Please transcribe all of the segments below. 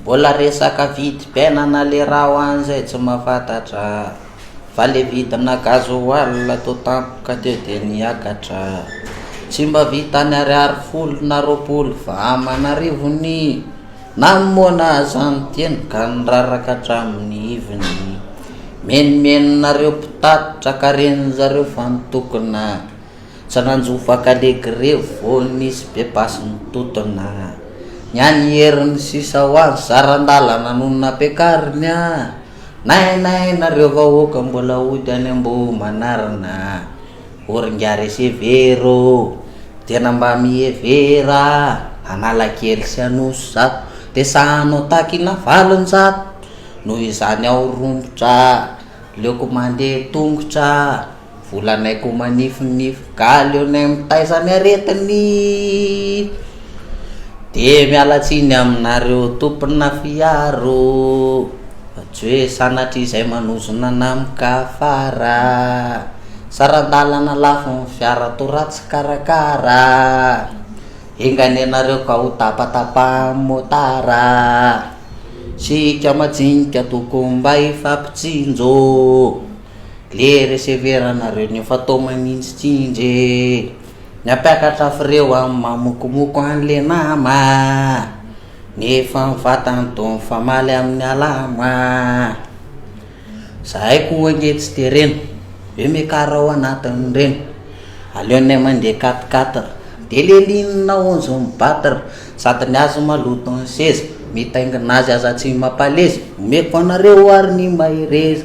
Mbola resaka vidim-piainana lerao any zay tsy mahafantatra Fa le vidina gasoil to tampoka teo de niakatra Tsy mba vitan'ny ariary folo na roapolo fa aman'arivo ny Namoana aza ny teny ka niraraka hatramin'ny ivony Menomenonareo mpitatitra ka ren'zareo fa mitokona Tsy nanjo vaka le grevy vao nisy be basy nitotona Ny an'i Hery ny sisa ho azy saran-dalana no nampiakariny a Nainay nareo vahoaka mbola hody any Ambohimanarina O ry ngare sy hevero o Tena mba mihevera Analakely sy Anosizato Dia sahy hanao takina valonjato Noho izany aho romotra Aleoko mandeha tongotra Volanay ko manifinify galy eo nay mitaiza ny aretiny de miala tsiny aminareo tompona fiaro fa tsy hoe sanatria izay manozona anah mikafara saran-dalana lafo ny fiara to ratsy karakara enga anie nareo ka ho tapatapahan'ny motara sika majinika tokony mba hifampitsinjo Le reseveranareo ny efa tao manintsy tsindry e Ny hampiakatra freo a mamokomoko an le nama Nefa ny vatany toa mifamaly amin'ny alamo a Zahay koa ange tsy dia reny Ve miakara ao anatin'ireny Aleonay mandeha quatre quatre Dia lelinina aonjon'ny battre Sady ny azy maloto ny seza Mitaingina azy aza tsy mampaleza Omeko anareo ary ny mahereza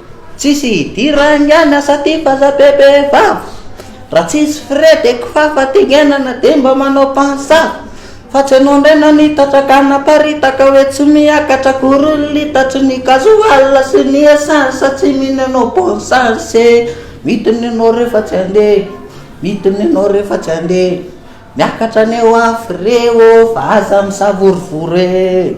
Tsisy hidiran angiany asa ty fa za be be vava Raha tsisy frais de kifafa tengenana de mba manao pansava Fa tsy anao ndray nanitatra ka naparitaka hoe tsy miakatra akory ny litatry ny gasoil sy ny essence Tsy mino anao bon sens e Midina ianao rehefa tsy handeha Midina ianao rehefa tsy handeha Miakatra ny eo amin'ny frais ô fa aza misavorovoro e.